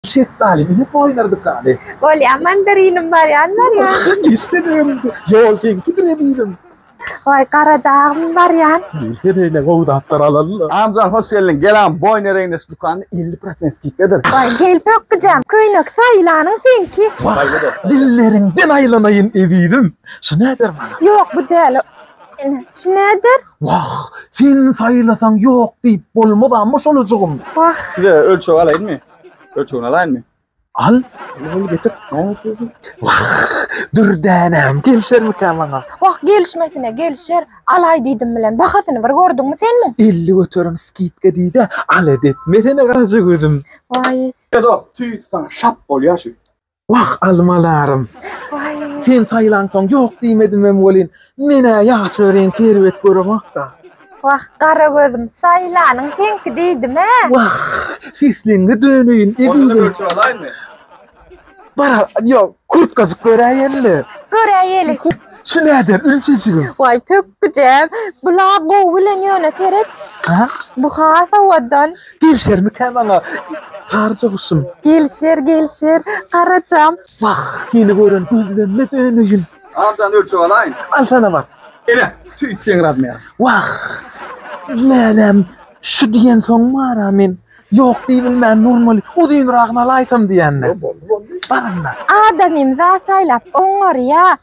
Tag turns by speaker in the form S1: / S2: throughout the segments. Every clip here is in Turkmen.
S1: Şetdaly bizi toýlardyk ady. Bolýa mandarinim
S2: bar ýan bar ýan. Dişde
S1: dönüdi. Ýol seňkidir eminim. Waý gara
S2: dagym bar ýan. Gelse beýle gowy
S1: zatlar alalla. Amjan hoş geldiň gelam
S3: boýun ereýin de şu dükany elli prosent skidkadyr. Waý gel pökgijam
S2: köýnek saýlanyň seňki. Waý dilleriňden
S1: aýlanaýyn ezizim. Şu näder maňa. Ýok bu däl.
S2: Ine şu näder. Wah, sen
S1: saýlasaň ýok diýip bolmaz amma şolajygym. Wah. Size
S2: ölçeg alaýynmy?
S3: Ölçegini alaýynmy? Al.
S1: Ol getir.
S3: Wah,
S1: dürdänem gelişermikä maňa? Wah, gelişmesine
S2: gelişer. Alaý diýdim bilen, bahasyny bir gördüňmi sen muň? Elli göterim skidka
S1: diýdä, alada etmesene garaja gözüm. Waý. Edo,
S2: tüýs
S3: saňa şap bolýa şu. Wah,
S1: almalarym!
S2: Sen saýlansoň
S1: ýok diýmedimem welin, men-ä ýaşyl reňki erbet göremok-da. Wah, gara
S2: gözüm, saýlanyň seňki diýdim-ä. Wah,
S1: sesleňňe döneýin, ezizim! Bara, ýok, kurtkajyk göräýeli-le. Göräýeli.
S2: Şu näder,
S1: ülçejigim? Waý, pökgüjem,
S2: bul-a gowy bilen ýöne, seret, bu
S1: has
S2: owadan. Gelişermikä
S1: maňa Saryja guşum? Gelişer,
S2: gelişer, Garajam. Wah, seni
S1: gören gözlerime döneýin. Arjan ölçeg
S3: alaýyn. Al sana bar.
S1: Ele, söýtseň
S3: razmer. Wah,
S1: lälem, şu diýensoň bar-a men. Ýok diýibilmän nurmaly, uzynragyny alaýsam diýände. Boldy, boldy. Bar onda. Adamym
S2: zat saýlap oňňarýa.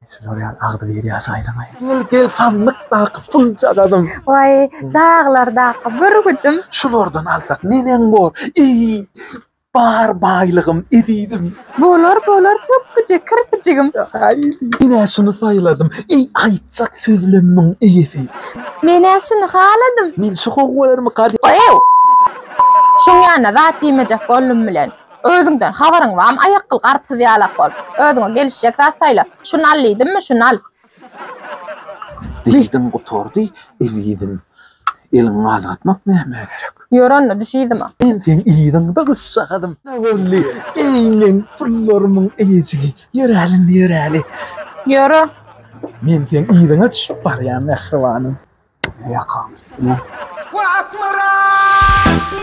S1: Şular ýaly agzybir ýaşy aýlamaýyn. Gel, gel, sandykdaky puljagazym. Waý,
S2: daglardaky bürgüdim. Şulardan alsak
S1: neneň bor? Eý, bar baýlygym, ezizim. Bolar, bolar,
S2: pökgüje kirpijigim. Aý, men-ä
S1: şuny saýladym. Eý, aýtjak sözlem muň eýesi. Men-ä şuny
S2: haladym. Men şu gowy bolarmy,
S1: garýa? Eý,
S2: şuň ýanyna zat diýmejek boldum bilen. Özüňden habaryň bam aýakgyl garpyz ýalak bol. Özüňe gelişjek zat saýla. Şuny al diýdimmi, şuny al. Diýdiň
S1: gutardy ezizim. Eliňi galgatmak nämä gerek. Ýör onda düş yzyma.
S2: Men seň yzyňda
S1: gyzjagazym. Nä boldy eý meň pullarymyň eýejigi. Ýöräl indi ýöräli. Ýöre.
S2: Men
S1: seň yzyňa düşüp barýan mähribanym. Ýakaňy. Wah akmyrat.